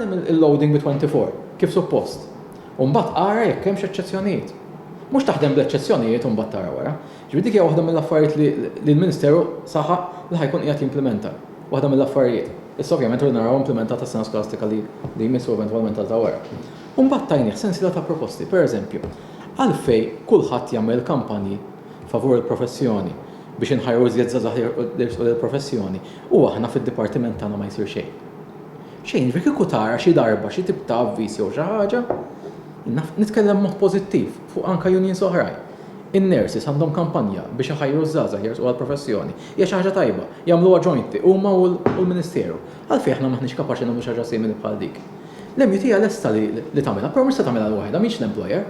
Aħdem il-loading bi 24 kif suppost. U mbagħad ara jekk hemmx eċċezzjonijiet. Mhux taħdem bl-eċċezzjonijiet u mbagħad tara wara. Ġifieri dik hija waħda mill-affarijiet li l-Ministeru saħaq li ħajkun qiegħed jimplimenta. Waħda mill-affarijiet. Issa ovvjament rridu naraw implimentata s-sena skolastika li jmiss u eventwalment għal ta' wara. U mbagħad tajnih sensiela ta' proposti, pereżempju, għalfejn kulħadd jagħmel il-kampanji favur il-professjoni biex inħajru iżjed żgħażagħ jersqu lill-professjoni u aħna fid-dipartiment tagħna ma jsir xejn. Xejn, ġifieri kieku tara xi darba xi tip ta' avviż jew xi ħaġa, nitkellem mod pożittiv fuq anke unions oħrajn. In-nurses għandhom kampanja biex iħajru ż-żgħażagħ jersqu għall-professjoni. Hija xi ħaġa tajba, jagħmluha jointly huma u l-Ministeru. Għalfejn aħna m'aħniex kapaċi nagħmlu xi ħaġa simili bħal dik? L-MUT hija lesta li tagħmilha, però mhux se tagħmilha waħedha, mhix l-employer.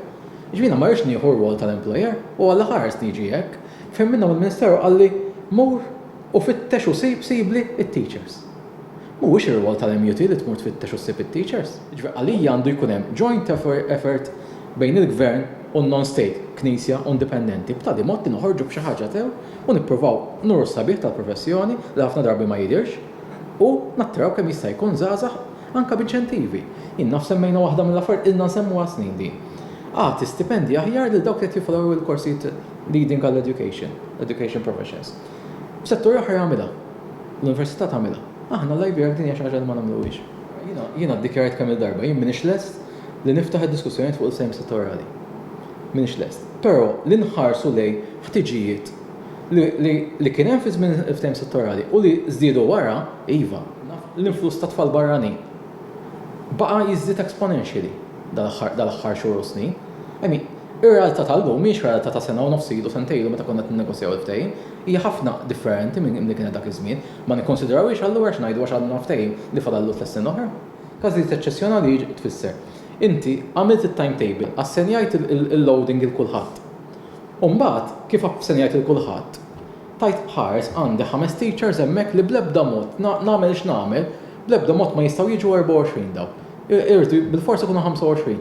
Jiena ma rridx nieħu r-rwol tal-employer u għal l-aħħar għeżtni jiġi hekk. Fehmilna mill-Ministeru qalli mur u fittex u sib sibli t-teachers. Mhuwiex ir-rwol tal-MUT li tmur tfittex u ssib it-teachers. Jiġifieri għalija għandu jkun hemm joint effort bejn il-Gvern u n-non-state, Knisja u indipendenti, b'tali mod li noħorġu b'xi ħaġa sew u nippruvaw nuru s-sabiħ tal-professjoni li ħafna drabi ma jidhirx u nattiraw kemm jista' jkun żgħażagħ Anke b'inċentivi. Jien naf semmejna waħda mill-affarijiet, ilna nsemmuha snin din. Agħti stipendji aħjar lil dawk li qed joffru l-korsijiet leading għall-education, education professions. F'setturi oħra jagħmilha. L-università tagħmilha. Aħna l-Ivy jekk din hija xi ħaġa li ma nagħmluhiex. Jiena ddikjarajt kemm-il darba, jien m'iniex lest li niftaħ id-diskussjonijiet fuq il-ftehim settorjali. M'iniex lest. Però li nħarsu lejn ħtiġijiet Li kien hemm fi żmien il-ftehim settorali u li żdiedu wara, iva, naf li l-influss ta' tfal barranin baqa' jiżdied exponentially dal-aħħar xhur u snin. I mean, ir-realtà tal-lum mhijiex realtà ta' sena u nofs ilu, sentejn ilu meta konna qed ninnegozjaw il-ftehim. Hija ħafna differenti minn li kienet dak iż-żmien. Ma nikkonsidrawhiex allura għax ngħidu għax għandna ftehim li fadallu tliet snin oħra? Każijiet eċċezzjonali jiġ tfisser. Inti għamilt it-timetable, assenjajt il-loading 'il kulħadd. U mbagħad, kif aħsen jgħid lil kulħadd, tajt ħares għandi ħames teachers hemmhekk li bl-ebda mod, nagħmel x'nagħmel, bl-ebda mod ma jistgħu jiġu 24 dawk. Irridu bilfors ikunu 25.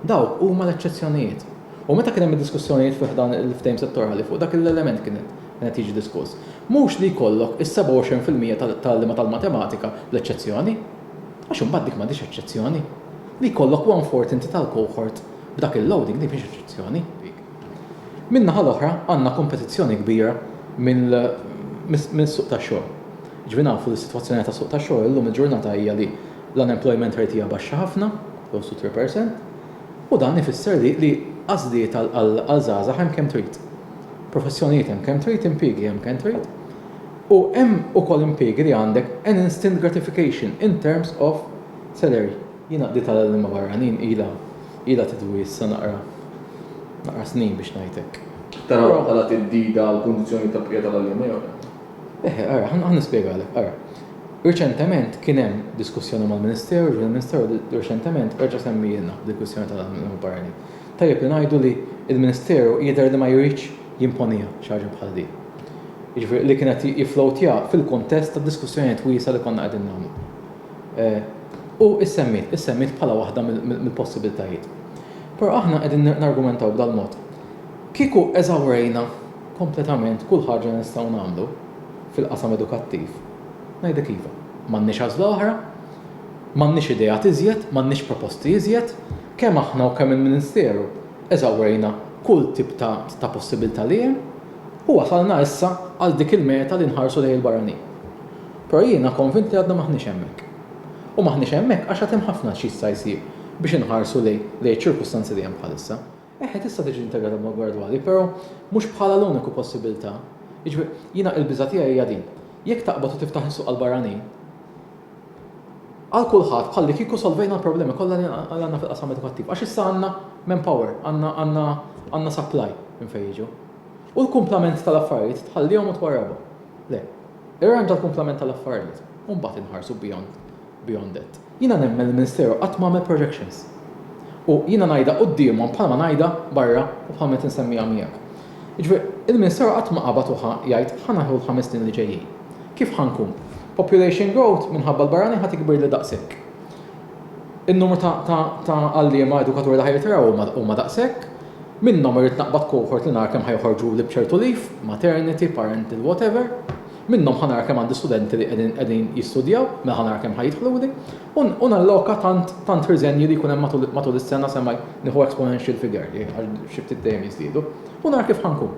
Dawk huma l-eċċezzjonijiet. U meta kien hemm id-diskussjonijiet fi ħdan il-ftehim settorali fuq dak l-element kien qed jiġi diskuss. Mhux li jkollok is-27 fil-mija tal-għalliema tal-matematika bl-eċċezzjoni. Għax imbagħad dik m'għadhiex eċċezzjoni. Li jkollok one-fourth inti tal-cohort B'dak il-loading din mhix eċċezzjoni. Min-naħa l-oħra għandna kompetizzjoni kbira mis-suq tax-xogħol. Jiġifieri nafu li s-sitwazzjoni tas-suq tax-xogħol illum il-ġurnata hija li l-unemployment rate hija baxxa ħafna, close to three percent, u dan ifisser li għażliet għal żgħażagħ hemm kemm trid. Professjonijiet hemm kemm trid, impiegi hemm kemm trid, u hemm ukoll impiegi li għandek an instant gratification in terms of salary. Jiena qdiet għal għalliema barranin ilha ilha tidwi issa naqra naqra snin biex ngħid hekk. Tarawha bħala theddida għall-kundizzjonijiet ta' bqija tal-għalliema jew le? Eħe, ara, ħa nispjegalek. Ara, riċentement kien hemm diskussjoni mal-Ministeru, ġifieri l-Ministeru riċentement reġa' semmielna dil-kwistjoni tal-għalliema barranin. Tajjeb li ngħidu li l-Ministeru jidher li ma jridx jimponiha xi ħaġa bħal din. Jiġifieri li kien qed jifflowtja fil-kuntest ta' diskussjonijiet wiesgħa li konna qegħdin nagħmlu. U issemmiet, issemmiet bħala waħda mill-possibiltajiet. Però aħna qegħdin nargumentaw b'dal-mod. Kieku eżawrejna kompletament kull ħaġa li nistgħu nagħmlu fil-qasam edukattiv, ngħidlek iva, m'għandniex għażla oħra, m'għandniex ideat iżjed, m'għandniex proposti iżjed, kemm aħna u kemm il-Ministeru eżawrejna kull tip ta' possibilità li hemm u wasalna issa għal dik il-meta li nħarsu lejn il-barranin. Però jiena konvint li għadna m'aħniex hemmhekk. U m'aħniex hemmhekk għax għad hemm ħafna x'jista' jsir biex inħarsu lejn iċ-ċirkustanzi li hemm bħalissa. Eħe, tista' tiġi integrata b'mod gradwali, però mhux bħala l-uniku possibilità. Jiġifieri, jiena il-biża' tiegħi hija din, jekk taqbad u tiftaħ is-suq għall-barranin, għal kulħadd bħallikieku solvejna l-problemi kollha li għandna fil-qasam edukattiv, għax issa għandna manpower, għandna supply minn fejn jiġu. U l-kumplament tal-affarijiet tħallihom u twarrabhom. Le. Irranġa l-kumplament tal-affarijiet u mbagħad inħarsu beyond beyond it. Jiena nemmen li ministeru qatt ma għamel projections. U jiena ngħidha quddiemhom bħal ma ngħidha barra u bħal meta nsemmiha miegħek. Jiġifieri, il-ministeru qatt ma qabad u ħa jgħid ħa naħlu l-ħames snin li ġejjin. Kif ħa nkun? Population growth minħabba l-barranin ħa tikbirli daqshekk. In-numru ta' għalliema edukaturi li ħa jirtiraw huma daqshekk. Minnhom irrid naqbad cohort li nara kemm ħa joħorġuli b'ċertu leave, maternity, parental, whatever. Minnhom ħa nara kemm għandi studenti li qegħdin jistudjaw, mela ħa nara kemm ħa jidħluli. U nalloka tant tant riżenji li jkun hemm matul is-sena sa ma nieħu exponential figure li għax xi ftit dejjem jiżdiedu. U nara kif ħa nkun.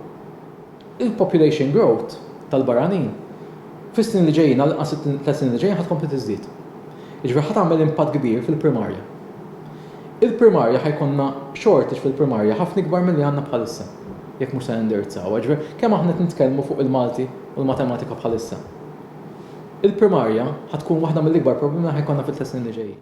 Il-population growth tal-barranin fis-snin li ġejjin, għall-inqas it-tliet snin li ġejjin ħa tkompli tiżdied. Jiġifieri ħa tagħmel impatt kbir fil-primarja. Il-primarja ħa jkollna shortage fil-primarja ħafna ikbar milli għandna bħalissa jekk mhux se nindirizzawha. Jiġifieri kemm aħna qed nitkellmu fuq il-Malti u l-Matematika bħalissa. Il-primarja ħa tkun waħda mill-ikbar problemi li ħa jkollna fit-tliet snin li ġejjin.